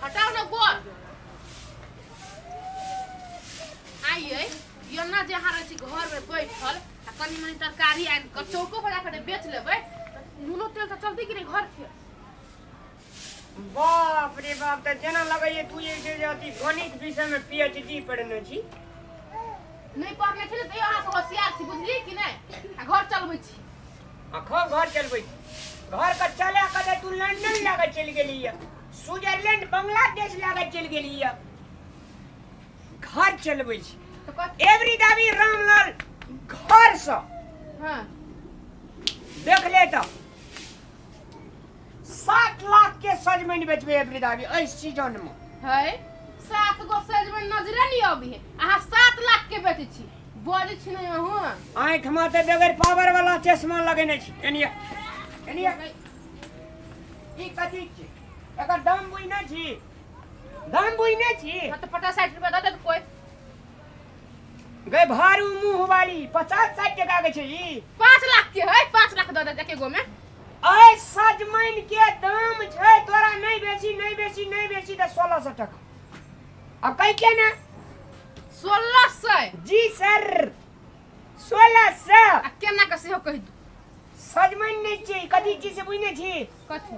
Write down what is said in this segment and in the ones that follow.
हटाओ ना गोर आइए योना जे अहाँ रहै छी घरमे बैठल आ कनी मनी तरकारी आनि कऽ चौको पर जाकर बेच लेबै तऽ नूनो तेल तऽ चलतै कि नहि घरके बाप रे बाप तऽ जेना लगैए तू जे छै जे अथी गणित विषयमे पीएचडी पढ़ने छी नहि पढ़ने छलै तैयो अहाँसँ होशियार छी बुझलियै कि नहि आ घर चलबै छी आ खूब घर चलबै छी घरके चला कऽ तऽ तू लंदन लए कऽ चलि गेली यऽ स्विट्जरलैंड बांग्लादेश लए कऽ चलि गेली यऽ घर चलबै छी तो कत- एवरी दाबी रामलाल घरसँ हाँ देख ले तऽ सात लाख के सजमनि बेचबे वृद्धावी एहि सीजन में है सात गो सजमन नजरे नहीं अभी है अहाँ सात लाख के बेचे छी बजे छी नहीं अहूँ आँखि में तो बगैर पावर वाला चश्मा लगेने छी एनिया एनिया ई कथी छी एकर दाम बुझने छी दाम बुझने छी तो पचास साठ रुपया दे दे कोई गए भारी मुंह वाली पचास साठ टका के छै ई पाँच लाख के है पाँच लाख दऽ दे एके गो में ऐ सजमैन के दाम छै तोरा नहीं बेसी नहीं बेसी नहीं बेसी तऽ सोलह सौ टका आ कहि के ना सोलह सौ जी सर सोलह सौ आ केना के सेहो कहि दू सजमैन नहीं छै कथी छी से बुझने छी कथी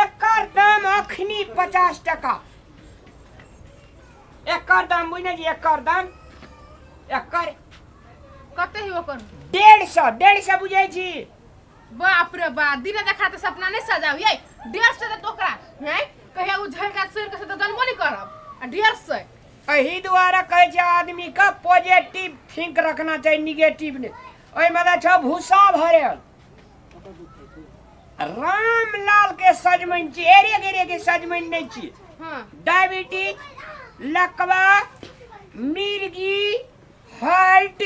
एकर दाम अखनी पचास टका एकर दाम बुझने जी एकर दाम एकर कते ही ओकर डेढ़ सौ डेढ़ सौ बुझे जी बाप रे बाप दिन देखा तो सपना नहीं सजाऊ ये डेढ़ सौ तो ओकरा है कहिया उ झड़ का सुर के से तो जन्मो नहीं करब आ डेढ़ सौ एही द्वारा कहै छै आदमी के पॉजिटिव थिंक रखना चाही निगेटिव ने ओहिमे तऽ छौ भूसा भरल रामलाल के सजमन छी एरिया के एरिया के सजमन नहीं छी हाँ डायबिटीज लकवा मिर्गी हार्ट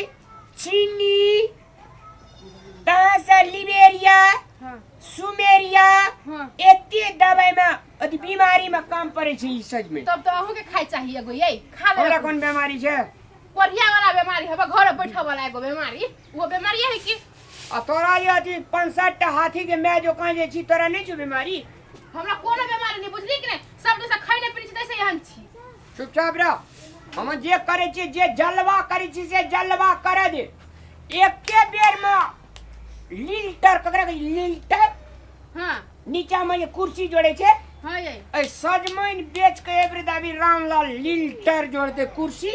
चीनी तहाँ से लिबेरिया हाँ सुमेरिया हाँ एते दवाई में अथी बीमारी में काम पड़े छै ई सच में तब तो अहूँ के खाए चाहिए एगो यही खा हमरा ले कोन बीमारी छै कोरिया वाला बीमारी हवा घर बैठा वाला एगो बीमारी वो बीमारी है कि आ तोरा ये अथी पाँच सात टा हाथी के मैं जो कहाँ जे छी तोरा नहीं छो बीमारी हमरा कोनो बीमारी नहीं बुझली कि नहीं सब दिन से खाई नहीं पीनी छी तैसे यहाँ छी चुपचाप रह हम जे करे छी जे जलवा करे छी से जलवा करे दे एके बेर में लिल्टर ककरा कही लिल्टर हाँ नीचा में ये कुर्सी जोड़े छे हाँ ये ऐ सजमैन बेच के एवरे दाबी रामलाल लिल्टर जोड़ दे कुर्सी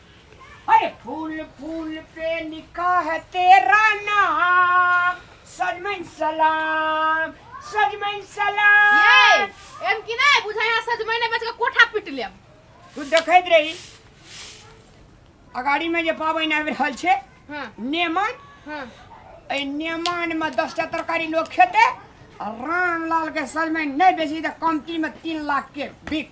अरे फूल फूल पे लिखा है तेरा नाम सजमन सलाम सजमन ये सलाम एम की नहीं बुझाई हां सज महीने बच के कोठा पीट लेम तू देखैत रही अगाड़ी में जे पाबनि आबि रहल छै हां नेमन हां एहि नेमान में दस टा तरकारी लोग खेते आ रामलाल के सजमन नहि बेसी तऽ कमती में तीन लाख के बिक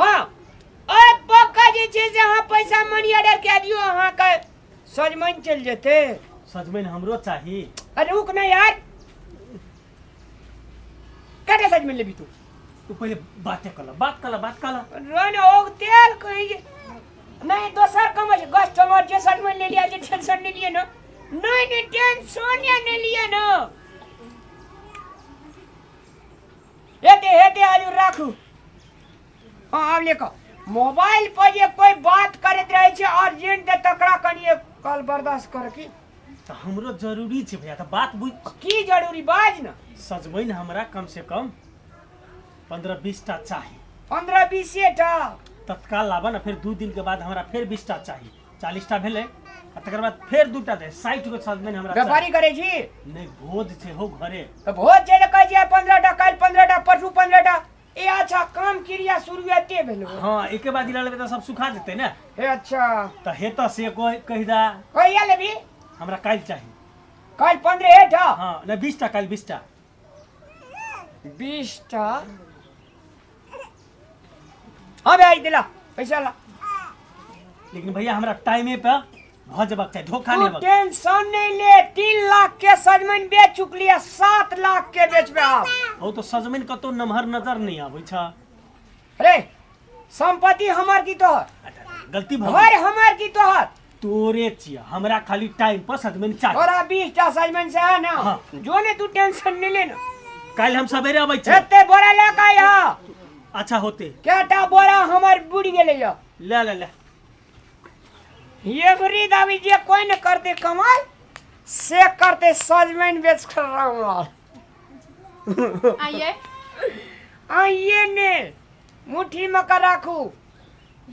हँ ओए पक्का जे छै से अहाँ पैसा मनी ऑर्डर कए दियौ अहाँके सजमनि चलि जेतै सजमनि हमरो चाही अरे रुक ना यार कटे सजमनि लेबी तू तू पहिले बाते कल बात कल बात कल रोन ओ तेल कहीं जे नहीं दोसर कम छै गस चमर जे सजमनि ले लिया जे टेंशन नहीं लिए ना नहीं नहीं टेंशन नहीं लिए ना हेते हेते आजू राखू हाँ आब लेकर मोबाइल पर जे कोई बात करैत रहै छै अर्जेंट तऽ तकरा कनिए कल बर्दाश्त कर की तो हमरो जरूरी छै भैया तो बात बुझ की जरूरी बाज न सजबै ने हमरा कम से कम पंद्रह बीस टा चाही पंद्रह बीसे टा तत्काल लाबा ना फिर दू दिन के बाद हमरा फिर बीस टा चाही चालीस टा भेलै आ तकर बाद फेर दू टा दे साठि गो सजमनि हमरा चाही। व्यापारी करै छी नहि भोज छै हो घरे तऽ भोज छै तऽ कहै छियै पंद्रह टा काल्हि पंद्रह टा परसू पंद्रह टा ए अच्छा काम क्रिया शुरुआते भेलो हँ एके बाद गिरा लेबै तऽ सब सुखा देतै ने हे अच्छा तऽ हेतऽ से कोइ कहि दा कहिया लेबी हमरा काल्हि चाही काल्हि पंद्रह हे टा हँ नहि बीस टा काल्हि बीस टा बीस टा हाँ भैया ई दिला पैसा ला लेकिन भैया हमरा टाइमे पे भऽ जेबाक चाही धोखा तू लेबाक टेंशन नहीं ले तीन लाख के सजमन बेच चुकली है सात लाख के बेचबे आप ओ तो सजमैन कतौ नमहर नजर नहीं आबै छ अरे संपत्ति हमार की तोहर गलती भऽ घर हमार की तोहर तोरे चिया हमरा खाली टाइम पर सजमन चाहिए तोरा बीस टा सजमन से है ना हाँ। जो ने तू टेंशन नहीं लेना कल हम सवेरे अबै छी एते बोरा ले के आया अच्छा होते केटा बोरा हमर बुढ़ गेले या ले ले ले ये बुरी दावी जे कोई न करते कमाल से करते सजमन बेच कर रामलाल आइए आइए ने मुट्ठी में का राखू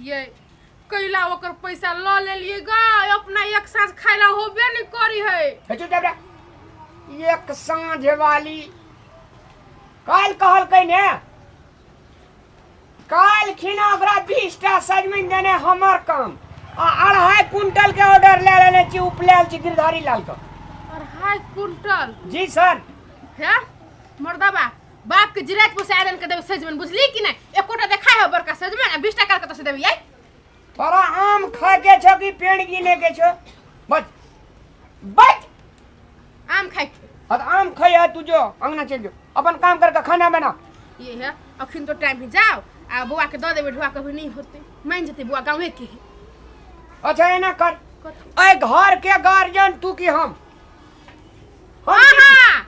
ये कैला ओकर पैसा ल लेलिए ग अपना एक साँझ खाइला होबे नहीं करी है हे चुप चाप रे। एक साँझ वाली काल कहल कहीं ने काल खिना ओकरा बीस टा सजमिन देने हमर काम आ अढ़ाई कुंटल के ऑर्डर ले लेने छी उपलैल छी गिरधारी लाल का अढ़ाई कुंटल जी सर है मर्दबा बाप के जिरात पर से आदन के देबे सजमन बुझली कि नहीं एकोटा देखा है बड़का सजमन आ बीस टका के तो से देबे आई तोरा आम खा के छो कि पेड़ गिने के छो बच बच आम खाई के अब आम खैया तू जो अंगना चल जो अपन काम करके खाना बना ये है अखन तो टाइम है जाओ आ बुआ के दऽ देबे ढुआ कभी नहीं होते मान जेते बुआ गाँवे के है अच्छा एना कर कथी? ऐ घर के गार्जियन तू कि हम हम हाँ की- हाँ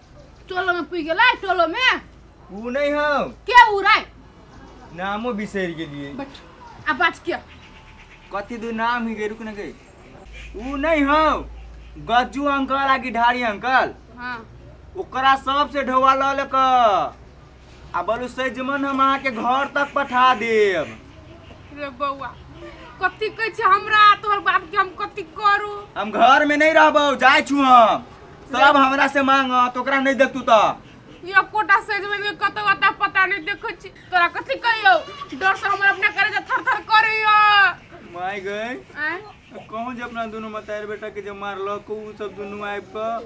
टोलो में पुग गेलै टोलो में ऊ नहीं हम के उड़ै नामो बिसर गेलिए बट आ बात के कथी दू नाम ही गई रुक न गई ऊ नहीं हम गज्जू अंकल आ गिढ़ारी अंकल हाँ ओकरा सबसे ढोवा लऽ लेक आ बोलू सजमन हम अहाँके घर तक पठा देब रे बौआ कथी कहै छै हमरा आ तोहर बाप के हम कथी करू हम घर में नहीं रहबो जाय छू हम सब हमरा से मांग तो ओकरा नहीं देखतू तो यो कोटा सजमन में कतौ अता पता नहीं देखै छी तोरा कथी कहियो डर से हमर अपना करे जे थर थर करैयो माय गई आँय? कहूँ जे अपना दुनू मतार बेटा के जे मारलक उ सब दुनू आबि कऽ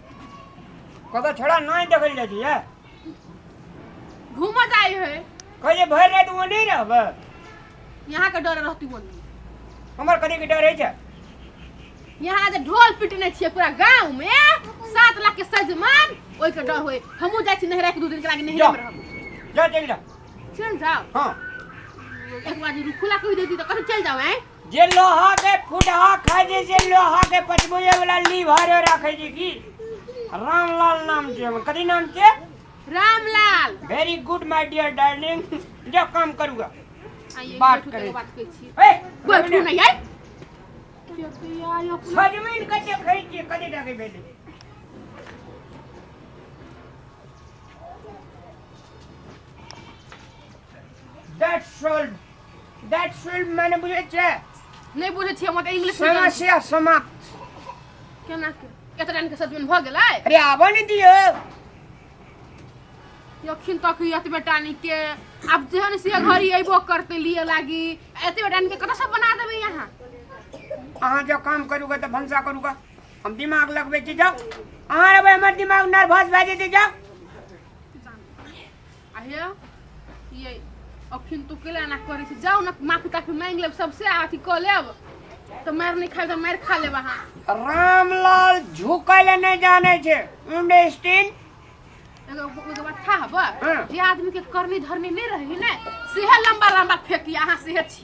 कतऽ छोड़ा नहि देखल जाइ छै घूमऽ जाइ है कहिए भरि राति ओ नहि रहबै यहाँ के डर रहती बोली हमर कथी के डर छै यहाँ जे ढोल पिटने छियै पूरा गांव में सात लाख के सजमान ओइ के डर होय हमहू जाइ छी नहरा के दू दिन के लागे नहरा में रहब जा चल जा चल जाओ हां एक बार रुकुला कहि देती तो कथी चल जाओ हैं जे लोहा के फुटहा खाय जे जे लोहा के पचबुए वाला लीवर रखे जी की रामलाल नाम जे हमर। कथी नाम के Ramlal very good my dear darling जो काम करूगा आइए, बात बैठू, करें। तकर बात करै छी। ए बैठू ना यार सजमिन के देखै छियै कथी डाके भेलै दैट्स ऑल That film मैंने बुझे छे नहीं बुझे छे मत इंग्लिश में समस्या समाप्त केना के केतना के साथ में भ गेलै अरे आबो नहीं दियो यखिन तक यत बेटा नी के अब जेहन से घरी अइबो करते लिए लागी एते बेटा नी के कत सब बना देबे यहां अहाँ जो काम करूगा तो भंसा करूगा हम दिमाग लगबे छी जाओ अहाँ रहबै हमर दिमाग नर्वस भए जेतै जाओ अहे ये अखिन तू केला ना करै छी जाउ ना माफी ताफी मांग लेब सबसे अथी क लेब त मार नहीं खाए त मार खा लेब अहाँ रामलाल झुकै ले नहीं जाने छे अंडरस्टैंड एगो एगो बात था हब हाँ। जे आदमी के करनी धरनी नहीं रही ने सेहे लंबा लंबा फेंकी अहाँ सेहे छी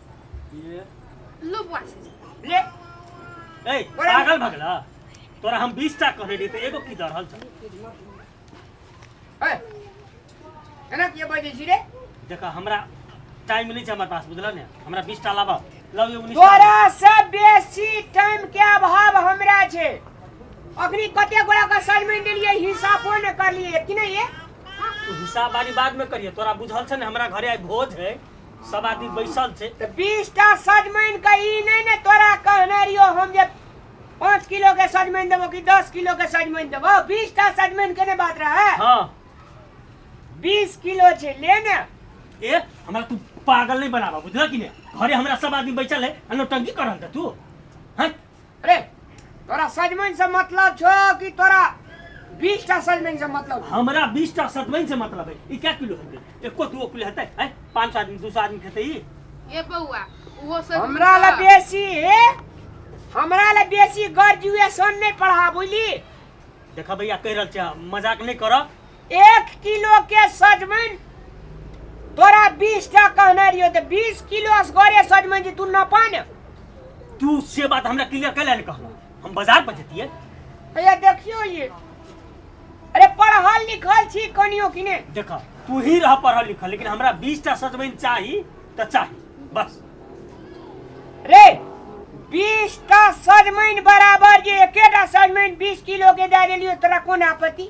लो बुआ से ले ए पागल भगला तोरा हम 20 टा कहने रही त एगो की दर हल छ ए एना के बजे छी रे देखा हमरा टाइम नहीं छ हमर पास बुझला ने हमरा 20 टा लाबा लव यू 19 तोरा से बेसी टाइम के अभाव हमरा छे अखनी कते गोरा का असाइनमेंट लिए हिसाबो न कर लिए कि नहीं ये हिसाब वाली बाद में करिए तोरा बुझल छ ने हमरा घरे आई भोज है सब आदमी बैसल छै तऽ बीस टा सजमनि के ई नहि ने तोरा कहने रहियो हम जे पाँच किलो के सजमनि देबो कि दस किलो के सजमनि देबो बीस टा सजमनि के ने बात रहे हाँ बीस किलो छै ले ने ए हमरा तू पागल नहीं बनाबा बुझल कि नहीं घरे हमरा सब आदमी बैठल है अनो टंकी करन त तू हैं अरे तोरा सजमन से मतलब छो कि तोरा बीस टा सजमन से मतलब हमरा बीस टा सतमैन से मतलब है ई क्या किलो हेतै एको दूगो किलो हेतै है पाँच सौ आदमी दू सौ आदमी खेतै ई ए बौआ उहो सब हमरा ला बेसी हे हमरा ला बेसी ग्रेजुएशन नहीं पढ़ा बुझली देखा भैया कहि रहल छियै मजाक नहि करऽ एक किलो के सजमन तोरा बीस टा कहना रहियो तो बीस किलो असगरे सजमन जी तू न पाने तू से बात हमरा क्लियर कैला ने कहला हम बाजार पर जतिए अरे देखियो ये अरे पढ़ल लिखल छी कनियो कि ने देख तू ही रह पढ़ल लिखल लेकिन हमरा बीस टा सजमैन चाही तो चाही बस रे बीस टा सजमन बराबर जे एकेटा सजमन बीस किलो के दे देलियो तोरा कोन आपत्ति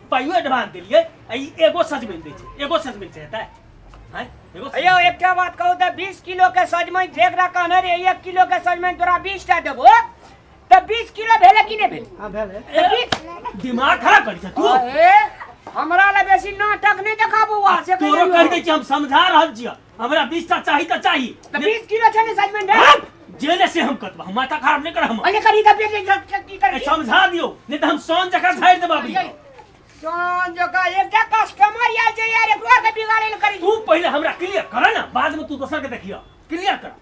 पाइयो एडवांस देलिए ई एगो सजमैन दै छै एगो सजमैन से हेतै हैं एगो सजमैन। अयो एकटा बात कहू तऽ बीस किलो के सजमनि जेकरा कहने रे एक किलो के सजमनि तोरा बीस टा देबो तऽ बीस किलो भेलै कि नहि भेलै हाँ भेल है तऽ बीस दिमाग खराब करै छै तू अरे, हमरा लए बेसी नाटक नहि देखा बौआ से तोरो कहियौ। कहि दै छी हम समझा रहल छियै हमरा बीस टा चाही तऽ चाही तऽ बीस किलो छै ने सजमन रे हट! जे ने से हम कतबा हम माथा खराब नहि कर हम अरे करी का पेट जब तक की ए, करती समझा दियो नहि तऽ हम सोन जकाँ झाड़ि देब अभी सोन जो का एकटा कस्टमर या जे यार एकरो के बिगाड़े ले करी तू पहिले हमरा क्लियर कर ना बाद में तू दोसर के देखियो क्लियर कर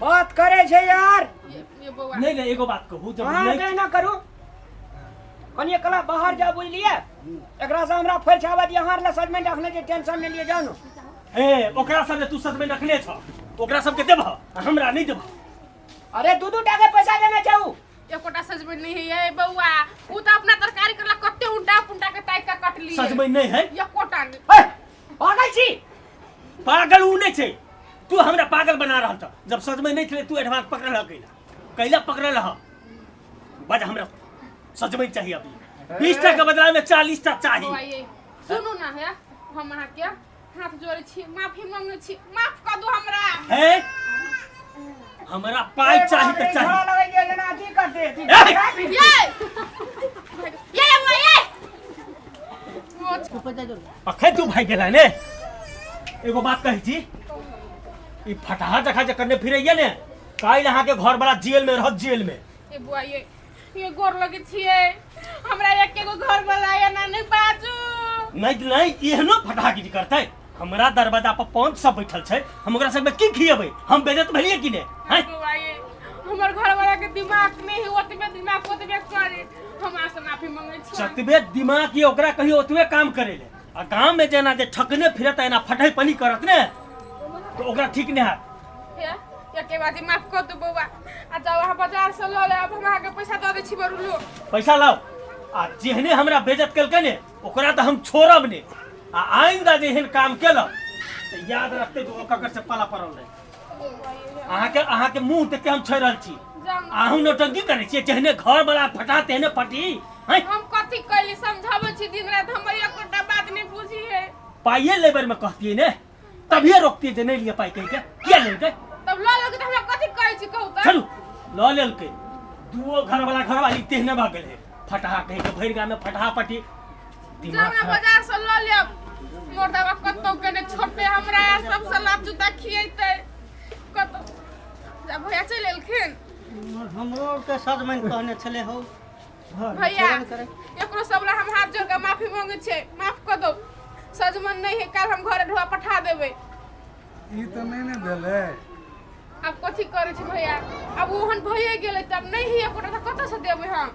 बात करे छै यार नहीं नहीं एगो बात कहू जब हाँ नहीं कहना करू कनिए कला बाहर जा बुझलिए एकरा से हमरा फैल छाबत यहाँ ले सजमेंट रखने जे टेंशन नहीं लिए जानो ए ओकरा सब जे तू सच में रखने छ ओकरा सब के देबह आ हमरा नहीं देबह अरे दू दू टा के पैसा देना चाहू एकोटा सजबे नहीं है ये बउआ उ त अपना तरकारी करला कते उंडा पुंडा के टाइप का कटली सच में नहीं है एकोटा नहीं ए, भागल छी पागल ऊ नहीं छे तू हमरा पागल बना रहल था जब सच में नहीं खेले तू एडवांस पकड़ रहा कैला कैला पकड़ रहा बज हमरा सच में चाहिए अभी बीस टका के बदला में चालीस टका चाहिए भाई सुनू ना है हम अहाँ के हाथ जोड़े छी माफी मांगे छी माफ कर दो हमरा है हमरा पाई चाहिए तो चाहिए ये ये ये ये अखन तू भाग गेला ने एगो बात कहै छी ई फटाहा जखा जे करने फिरैया ने काल्हि अहाँके घर बड़ा जेल में रहत जेल में ए बुआ ये ये गोर लगे छिए हमरा एक एगो घर वाला या ना नहीं बाजू नहीं नहीं एहनो फटाहागिरी करतै हमरा दरवाजा पर पाँच सौ बैठल छै हम ओकरा सबके की खियेबै हम बेजत भेलियै कि ने हैं बुआ ये हमर घर वाला के दिमाग नहीं है ओतबे दिमाग ओतबे करे हमरा से माफी मंगै छी जतबे दिमाग ये ओकरा कहियो ओतबे काम करे ले आ गांव में जेना जे ठकने फिरत एना फटै पनी करत ने तो ओकरा ठीक ने है हे एके बाजी माफ कर दू बौआ आ जाओ अहाँ बाजार से लऽ ले अब हम अहाँके पैसा दऽ दै छी बरू लो पैसा लाओ आ जेहने हमरा बेजत केलकै ने ओकरा तऽ हम छोड़ब ने आ आइंदा जेहन काम केलक तऽ याद रखते तो ओकर से पाला पड़ल रहे अहाँके अहाँके मुंह देख के हम छोड़ रहल छी अहूँ नौटंकी करै छियै जहने घर बड़ा फटा तेहने फटी हैं हम कथी कैली समझाबै छी दिन रात हमर एकोटा बात नहीं बुझी है पाइए लेबर में कहतियै ने तभिए रोकतियै जे नहि लिअ पाइ कहि के किया लेलकै तब लऽ लेलकै तऽ हमरा कथी कहै छी कहू तऽ चलू लऽ लेलकै दुओ घरवाला घरवाली तेहने भऽ गेलै फटहा कहि के भरि गाममे फटहा पटी जाना बाजार से लऽ लेब मोर दवा कतौ के ने छोड़ते हमरा आ सब सलाब जूता खिएते कतौ जा भैया चलि एलखिन हमरो के सजमैन कहने छले हो घर भैया छोड़ल करे एकरो सबला हम हाथ जोड़ के माफी मांगे छै माफ कऽ दो सजमन नहीं है काल हम घरे ढोआ पठा देबै ई तऽ नहि ने भेलै आब कथी करै छी भैया आब ओहन भइए गेलै तब नहीं है एकोटा तऽ कतऽ से देबै हम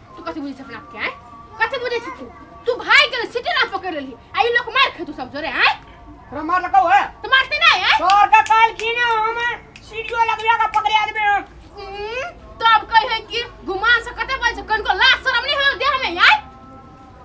तू कथी बुझै छै अपना आपके आँय कथी बुझै छै तू तू भागि गेल सिटी ना पकड़ि लेलही आ ई लोक मारि खेतू सब जोरे आँय तोरा मार लगा है तऽ मारतै नहि आँय सर का काल की ना हम सीढ़ियो लगवा का पकड़े आदमी हम उम्म, तब कहै कि गुमान से कते बजै छै कनको लाज शरम नहि होय देह में आँय